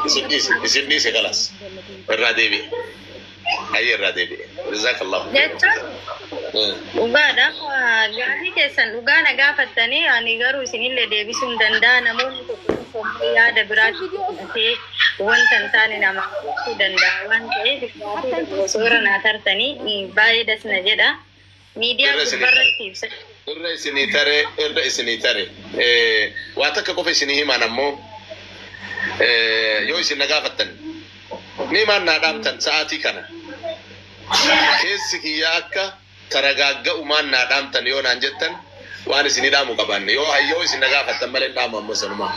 Isin dhiise isin dhiise kalas irraa deebi'e ayyee irraa deebi'e jazakallahu jechuun dhugaadha gaaffii keessan dhugaa na gaafattanii ani garuu isinillee deebisuu hin danda'a namoonni tokko tokko immoo yaada biraatti fudhatee wanta hin taane namaa gochuu danda'a waan ta'eef gaaffii tokko osoo irra naa tartanii baay'ee das na jedha. Miidiyaa Irra isinii tare. gubbarratti ibsa. Irra isinii tare, irra isinii tare. Eh, Waa takka qofa isinii himaan ammoo eh, yoo isin na gaafattan miimaan naa dhaamtan sa'aatii kana keessi kiyya akka taragaagga'umaan naa dhaamtan yoo naan jettan Waan isinii dhaamu qabaanne yoo hayyoo isin na gaafattan malee hin dhaamu ammoo sanumaa.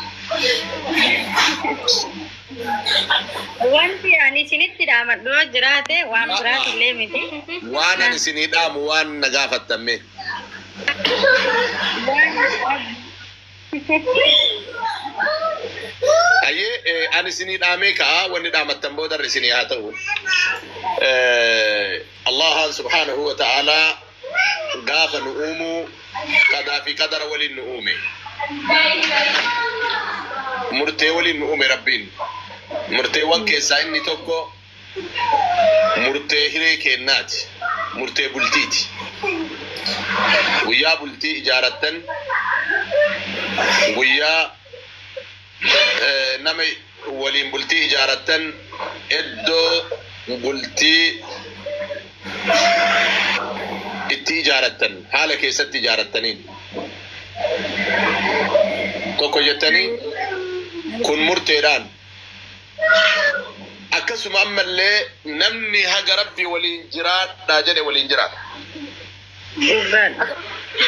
Wanti ani isinitti dhaamadhu yoo jiraate waan biraati illee miti. Waan ani isinii dhaamu waan na gaafattan mee. Hayyee eh, ani isinii dhaamee ka'a wanni dhaamattan boodarra isinii haa ta'u. Eh, Allahaan subhaanahu wa ta'aalaa gaafa nu uumu qadaa fi qadara waliin nu uume. Murtee waliin nu uume Rabbiin. Murteewwan keessaa inni tokko murtee hiree keennaati. Murtee bultiiti. Guyyaa bultii ijaarattan guyyaa nama waliin bultii ijaarattan iddoo bultii itti ijaarattan haala keessatti ijaarattaniin tokko jettanii kun murteedhaan akkasuma ammallee namni haga rabbi waliin jiraadhaa jedhe waliin jiraata. Dhugaan.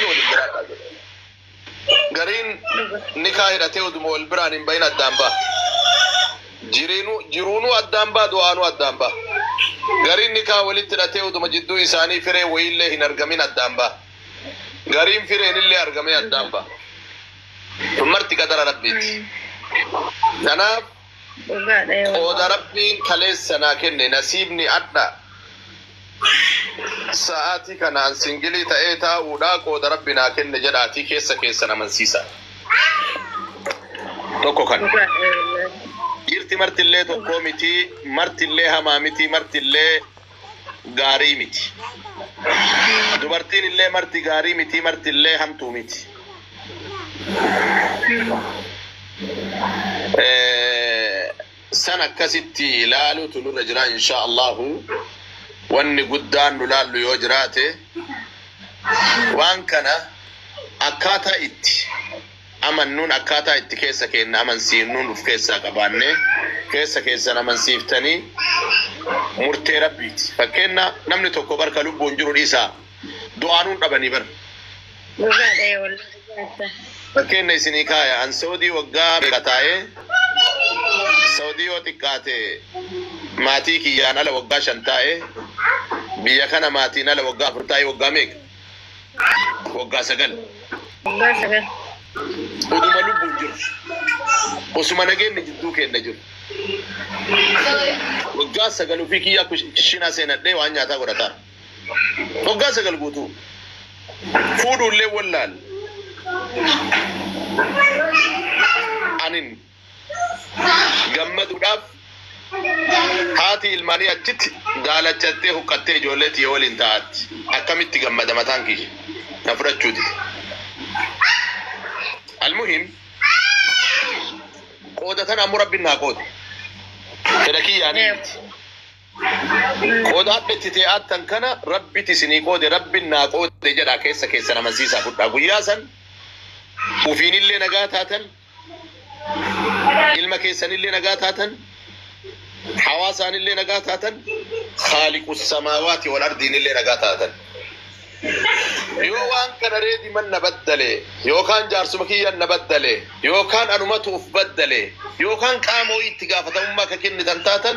Waliin jiraadhaa jedhe. Gariin nikaa hidhatee uduma wal biraan hin bahin addaan baha. Jiriinu, jiruunuu addaan baha, du'aanuu addaan baha. Gariin nikaa walitti hidhatee uduma jidduu isaanii fireen wayiillee hin argamin addaan baha. Gariin fireenillee argamee addaan baha. Kun marti qadara Rabbiiti. Kanaaf. Qooda Rabbiin kaleessa naa kenne nasiibni adha sa'aatii kanaan singilii ta'ee taa'uudha qooda Rabbi naa kenne jedhaatii keessa keessan amansiisaa. Tokko kan. Dhiirti martillee tokkoo mitii martillee hamaa mitii martillee gaarii miti. Dubartiin illee marti gaarii miti, marti illee hamtuu miti. Eh, San akkasitti ilaaluutu nurra jira insha Allahu. Wanni guddaan nu laallu yoo jiraate waan kana akkaataa itti amannuun akkaataa itti keessa keenna amansiifnuun uf keessaa qabaannee keessa keessan amansiiftanii murtee Rabbiiti. Fakkeenna namni tokko bar ka lubbuun jiru dhiisaa du'aanuun dhabanii bar. Dhugaadha ee wallahi jaarsa. Fakkeenna isinii kaaya an Sa'udii waggaa meeqa taa'ee Sa'udii yoo xiqqaate maatii kiyyaan ala waggaa shan taa'ee biyya kana maatiin ala waggaa afur taa'ee waggaa meeqa? waggaa sagal Waggaa sagal. oduma lubbuun jiru osuma nageenni jidduu keenna jiru waggaa sagal ofii kiyyaa kushinaa seenadhee waan nyaataa godhataa waggaa sagal guutuu fuudhuullee wallaal anin gammaduudhaaf haati ilmaanii achitti daalachattee huqqattee ijoollee tiyya waliin taa'atti akkamitti gammada mataan kiyya na fudhachuu dide. Almuhim qooda tana ammoo rabbiin naa qoode. Fedha kiyyaanii Naam. miti. Qooda hadha itti tee'aattan kana rabbiti isinii qoode rabbiin naa qoode jedhaa keessa keessan amansiisaa fudhaa. Guyyaa san ufiinillee nagaa taatan ilma keessanillee nagaa taatan hawaasaanillee nagaa taatan khaaliqu samaawaati wal ardiinillee nagaa taatan yoo waan kana reedi man na baddale yookaan jaarsuma kiyyan na baddale yookaan anumatu uf baddale yookaan qaama wayii itti gaafatamummaa akka kennitan taatan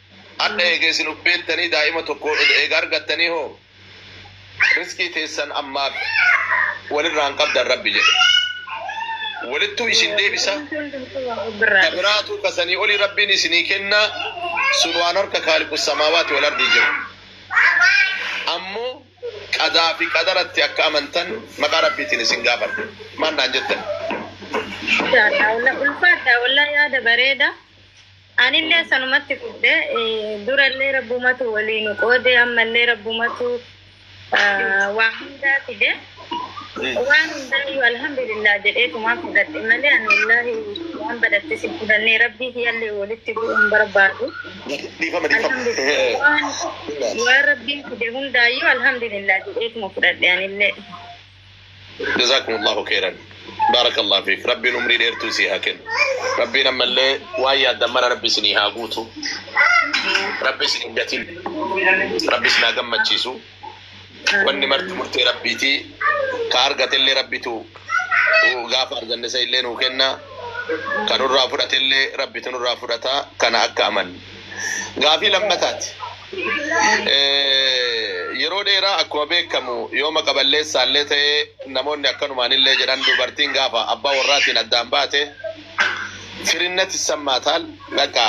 Hadha eega isin ubbeettanii daa'ima tokko eega argattanii hoo rizqii teessan ammaaf walirraa hin qabdan Rabbi jedhe. Walittuu isin deebisa, ka biraatuu ka sanii olii Rabbiin isinii kenna, sun waan harka Khaaliqu samaawaati wal ardii jiru. Ammoo qadaa fi qadaratti akka amantan maqaa Rabbiitiin isin gaafadha. Maal naan jettan? Masha Allah ulfaadha wallahi yaada bareeda. Anillee sanumatti fudhe, durallee Rabbumatu wolii nu qoode, ammallee Rabbumatu waa hundaa fide. Waan hundaayyuu Alhamdulillah jedheetumaan fudhadhe malee ani wallaahi waan badhattes hin fudhannee Rabbii kiyyallee wolitti bu'uu hin barbaadu. Dhiifama dhiifama. Alhamdulillah waan waan Rabbiin fide hundaayyuu Alhamdulillah jedheetuma fudhadhe anillee. Jazaakumullaahu keyran Baarakallaahu fiik Rabbiin umrii dheertuu isii haa kennu Rabbiin ammallee waan yaaddan mara Rabbi isinii haa guutu Rabbi isin hin gatin Rabbi isin haa gammachiisu wanni marti murtee Rabbiiti ka argatellee Rabbitu gaafa arganne san illee nuu kenna ka nurraa fudhatellee Rabbitu nurraa fudhata kana akka amannu Gaafii lammataati. Yeroo dheeraa akkuma beekamu yoo maqa balleessaallee ta'e namoonni akkanumaanillee jedhan dubartiin gaafa abbaa warraatiin addaan baate firinnat issammaatal baqa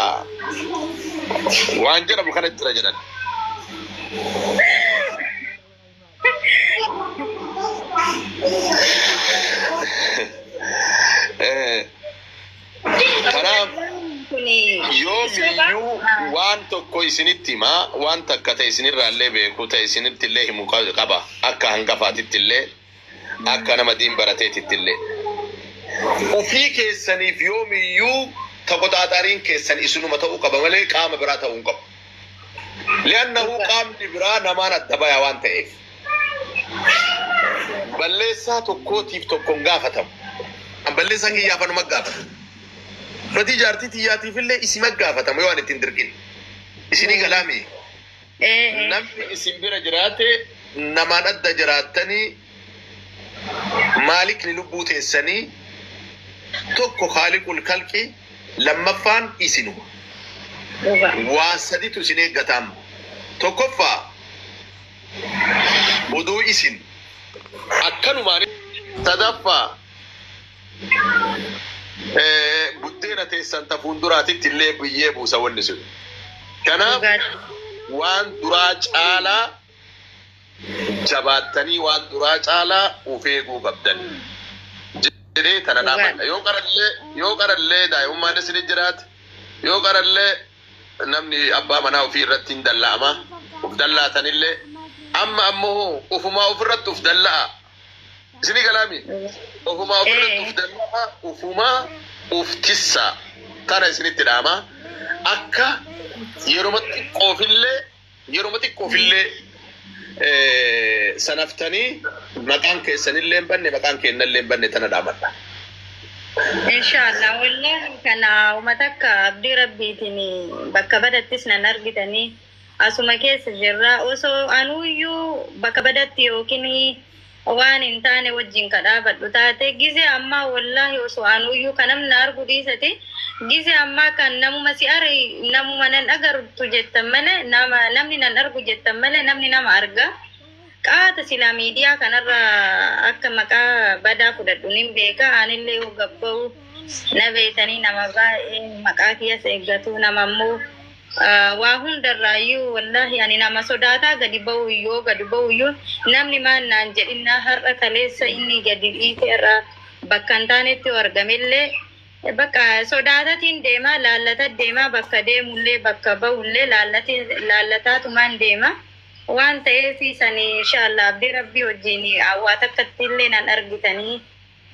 waan jedhamu kana jira jedhan. Eh, Kanaaf yoomiyyuu waan tokko isinitti himaa waan takka ta'e isinirraallee beeku ta'e isinittillee himu qaba akka hangafaatittillee Akka nama diin barateetittillee. Ofii keessaniif yoomiyyuu taqoxaaxariin keessan isinuma ta'uu qaba malee qaama biraa ta'uu hin qabu. Li'annahu qaamni biraa namaan adda baya waan ta'eef. Balleessaa tokkootiif tokko hin gaafatamu. An balleessaa kiyyaaf anuma gaafata. Badii jaartii tiyyaatiifillee isima gaafatama yoo an ittiin dirqin. Isinii galaamii. Namni isin bira jiraate namaan adda jiraattanii maalikni lubbuu teessanii tokko khaaliqul khalqi lammaffaan isinuma. Waa saditu isin eeggataam. Tokkoffaa odoo isin akkanumaan sadaffaa Eh, buddeena teessan ta fuulduraatitti illee biyyee buusa wanni sun. Kanaaf Dhugaadha. waan duraa caalaa jabaattanii waan duraa caalaa of eeguu qabdan. Jedhee tana Dhugaadha. dhaamadha. Yoo qarallee yoo qarallee daa'imummaan isin jiraate yoo qarallee namni abbaa manaa ofii irratti hin dalla'ama. Of dallaatanillee amma ammoo ofumaa ofirratti of dalla'a. Isinii galaami? Ofumaa ofirratti uf danda'a, ofumaa uf tissa. Tana isinitti dhaama. Akka yeroma xiqqoofillee yeroma xiqqoofillee sanaftanii maqaan keessanillee hin banne, maqaan keennallee hin banne tana dhaamadha. Inshaallah wallahi kana uma takka abdii rabbiitiin bakka badattis nan argitanii. Asuma keessa jirra. Osoo anuuyyuu bakka badatti yookiin waan hin taane wajjin ka dhaabadhu taate, gizee ammaa wollaahi osoo anuuyyuu ka namni na argu dhiisati, gizee ammaa kan namuma si are, namuma nan agartu jettan malee, nama, namni nan argu jettan malee namni nama arga. Qaata silaa miidiyaa kanarra akka maqaa badaa fudhadhu nin beeka. Anillee yoo gad bahu na beeytanii nama baay'ee maqaa kiyyas eeggatu, nama immoo, Waa hundarraayyuu wallahi ani nama sodaataa gadi ba'u yoo gadi ba'uyyuu namni maal naan jedhinnaa har'a kaleessa inni gadi dhiite har'a bakka hin taanetti yoo argamellee bakka sodaatatiin deema laallata deema bakka deemullee bakka ba'ullee laallatiin laallataatumaan deema waan ta'eef sani inshaallaa abdii rabbii wajjiin waa takkattiillee nan argitanii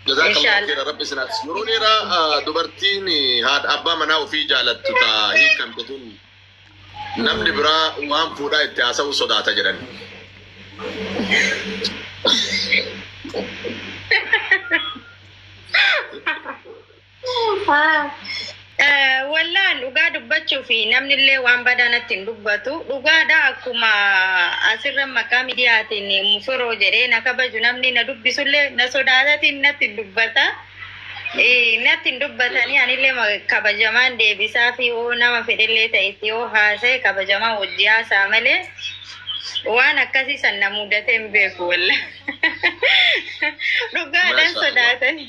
Jazaakallahu khairan rabbi isin haafis. Yeroo dheeraa ah, dubartiin eh, haadha abbaa manaa ofii jaalattu taa hiikamte tun namni biraa waan fuudhaa itti haasa'uu sodaata jedhan. Wallaan dhugaa dubbachuu fi namni illee waan badaa natti hin dubbatu. Dhugaadha akkuma asirra maqaa miidiyaatiin mufiroo jedhee na kabaju namni na dubbisu illee na sodaatatiin natti hin dubbata. Eh, Natti hin dubbatanii anillee ma- kabajamaan deebisaa fi yoo nama fedhellee ta'etti yoo haasa'e kabajamaan wajji haasa'a malee waan akkasii san na mudatee hin beeku wallaan. Dhugaadhaan Mashallah. sodaatanii.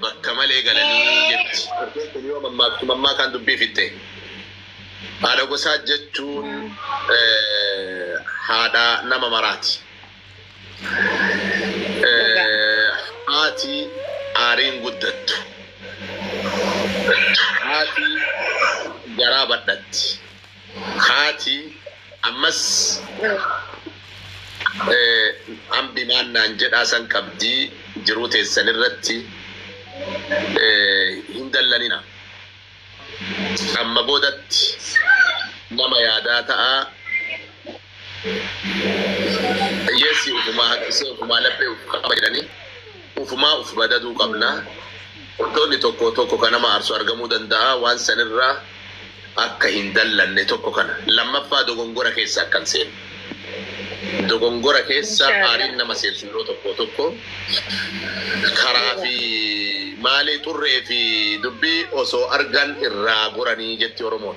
bakka malee galanii jetti. Fardeen kun yoo mammaaktu mammaakaan dubbii fixxe. Haadha gosaa jechuun haadha nama maraati. Haati aariin guddattu. Haati garaa badhatti. Haati ammas Ambi maan naan jedhaa san qabdii jiruu teessan irratti hin dallanina. Amma boodatti nama yaadaa ta'aa. Hiyyeessi ufumaa harkisee ufumaa laphee uf qaba jedhanii ufumaa uf badaduu qabna. Wantoonni tokko tokko ka nama aarsu argamuu danda'a. Waan san irra akka hin dallanne tokko kana. Lammaffaa dogongora keessa akka hin seenne. Dogongora keessa Inshallah. aariin nama seensu yeroo tokko tokko karaa fi maalii xurree fi dubbii osoo argan irraa goranii jetti Oromoon.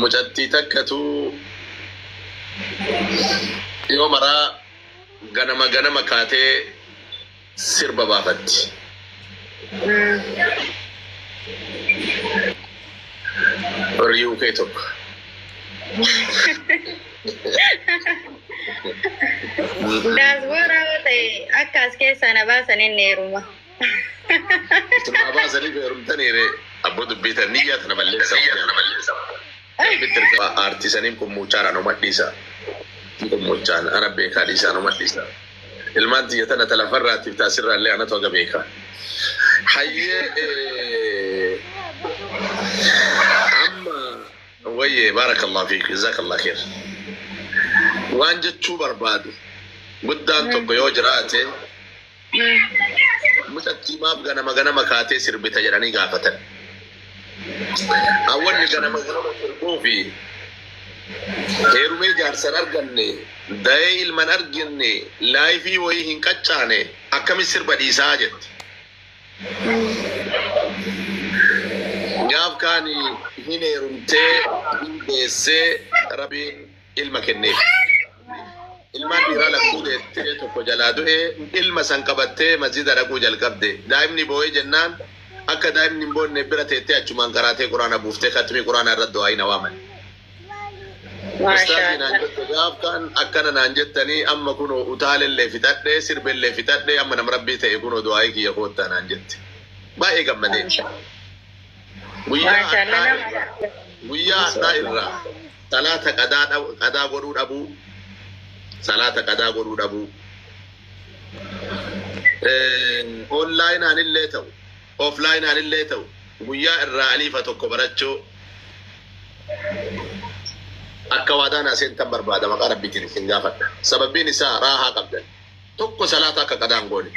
Mucattii takkatu yoo maraa ganama ganama kaatee sirba baafatti. Warri UK tokko. Daasbooraa yoo ta'e akka as keessaa na baasan inni heeruma. Ituma abaa sanii feerumtanii ree abboo dubbii tan niyyaa tana balleessa. Rabbitti erga aartii saniin qummuuchaan anuma dhiisa. Qummuuchaan ana beekaa dhiisa anuma dhiisa. Ilmaan tiyya tana ta lafarraatiif ta asirraallee anatu haga beeka. Hayyee eh, amma wayyee baarakallah fiik jazakallah kheer. Waan jechuu barbaadu guddaan tokko yoo jiraate Mucattii maaf ganama ganama kaatee sirbita jedhanii gaafatan. Hawwanni ganama ganama sirbuu fi heerumee jaarsan arganne, dayee ilman arginne, laayifii wayii hin qaccaane akkamitti sirba dhiisaa jetti. Gaaf kaani hin heerumtee, hin deessee, Rabiin. ilma kenneef. Ilmaan dhiiraa lakkuu deettee tokko jalaa du'e ilma san qabattee masjida dhaquu jalqabde. Daa'imni boo'ee jennaan akka daa'imni hin boonneef bira teettee achumaan qaraatee Quraana buuftee khatmii Quraanaa irratti du'aayi na waaman. Ustaazii naan jette gaaf kan akkana naan jettanii amma kunoo utaalellee fixadhee sirbellee fixadhee amma nama rabbii ta'e kunoo du'aayi kiyya koottaa naan jette. Baay'ee gammadee. Guyyaa har'aa irraa guyyaa har'aa irraa Salaata qadaa dhab qadaa godhuu dhabuu Salaata qadaa godhuu dhabuu Eh, online anillee ta'u offline anillee ta'u guyyaa irraa aliifa tokko barachuu akka waadaan aseentan barbaada maqaa rabbiitiin isin gaafadha sababiin isaa raahaa qabdan tokko salaata akka qadaan goone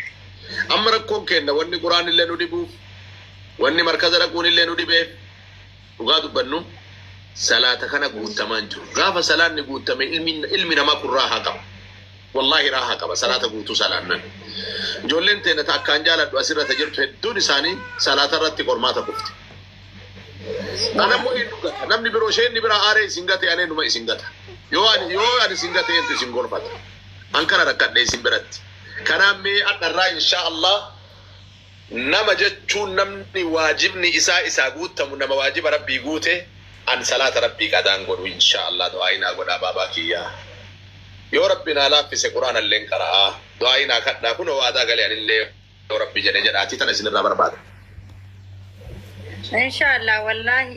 amma rakkoon keenna wanni quraan illee nu dhibuuf wanni markaza dhaquun illee nu dhibeef dhugaa dubbannu salaata kana guuttamaan jiru gaafa salaanni guuttame ilmi ilmi namaa kun raahaa qaba wallaahi raahaa qaba salaata guutuu salaannan ijoolleen teena ta akkaan jaaladhu asirra ta jirtu hedduun isaanii salaata irratti qormaata kufte anammoo eenyu gata namni biroo isheen ni biraa aaree isin gate anee numa isin gata yoo ani yoo ani isin gate eentu isin gorfata an kana rakkadhe isin biratti kanaan mee adharraa inshaa allah Nama jechuun namni waajibni isaa isaa guuttamu nama waajiba rabbii guute an salaata rabbii qadaan godhu inshaa allah du'aa'ii naa godhaa baabaa kiyyaa yoo rabbi naa laaffise qur'aanalleen qara'aa du'aa'ii naa kadhaa kunoo waadaa gale anillee yoo rabbi jedhe jedhaatii tana isinirraa barbaada. Inshallah wallahi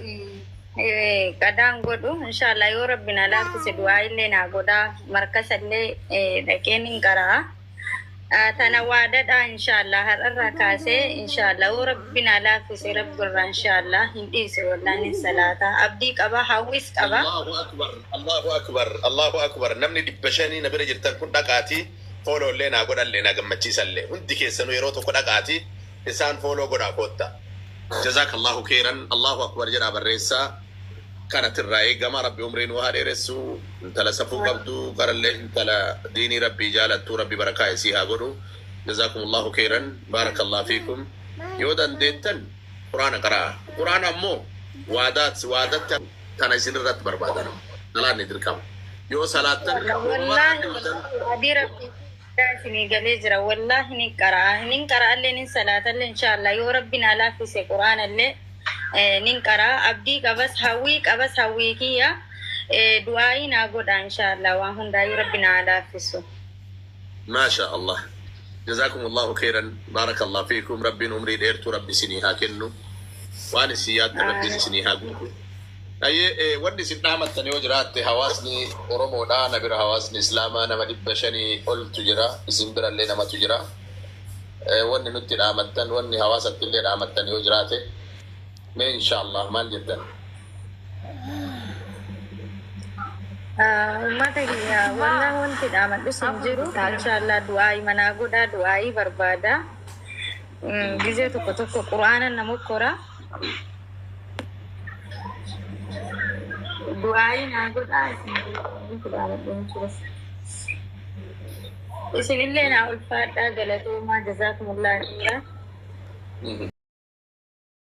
eh, qadaan godhu inshallah yoo rabbi na laaffise du'aa'illee naa godhaa markasallee eh, dhaqeen hin qara'a. Ah, Tana waadadha inshaallah har'arraa kaasee inshaallah oo rabbi naa laaffise rabbi irraa inshaallah hin dhiise wallaan hin salaata abdii qaba hawwis qaba. Allahu akbar Allahu akbar Allahu akbar namni dhibba shanii na bira jirtan kun dhaqaatii fooloo illee naa godhallee naa gammachiisa illee hundi keessanuu yeroo tokko dhaqaatii isaan fooloo godhaa kootta. Jazaakallahu keeyran Allahu akbar jedhaa barreessaa. kanati irraa eegama rabbi umrii nuu haa dheeressu intala safuu qabdu garallee intala diinii rabbii jaalattu rabbi barakaa isii haa godhu jazaakumullaahu keeyran baarakallah fiikum yoo dandeettan quraana qara'a quraana ammoo waadaat waadatti tana isin irratti barbaadana salaanni dirqama yoo salaattan Wallaahi Rabbi rabbii Bagaa isinii galee jira wallahi nin qara'aa hinin qara'allee nin salaatallee inshaa'allaah yoo rabbi naa laaffise qur'aanallee nin qara'aa abdii qabas hawwii qabas hawwii kiyya du'aa'ii naa godhaa inshaa'allaah waan hundaayyuu rabbi naa haa laaffissu. Maashaa Allah Jazaakumullaahu keyran Baarakallaahu fiikum Rabbiin umrii dheertuu Rabbi isinii haa kennu waan isin yaaddan Rabbiin isinii haa guutu. Hayyee wanni isin dhaamattan yoo jiraatte hawaasni Oromoodha na bira hawaasni Islaamaa nama dhibba shanii oltu jira isin birallee namatu jira wanni nutti dhaamattan wanni hawaasattillee dhaamattan yoo jiraate mee inshaallaah maal jettan? Uummata kiyya wallah wanti dhaamadhus hin jiru inshaallaah du'aa'ii manaa godhaa du'aa'ii barbaadaa Gizee tokko tokko qura'aana na mokkora. Du'aayii naa godhaa isin illee naa ulfaadhaa galatoomaa jazaakumullaa khayraa.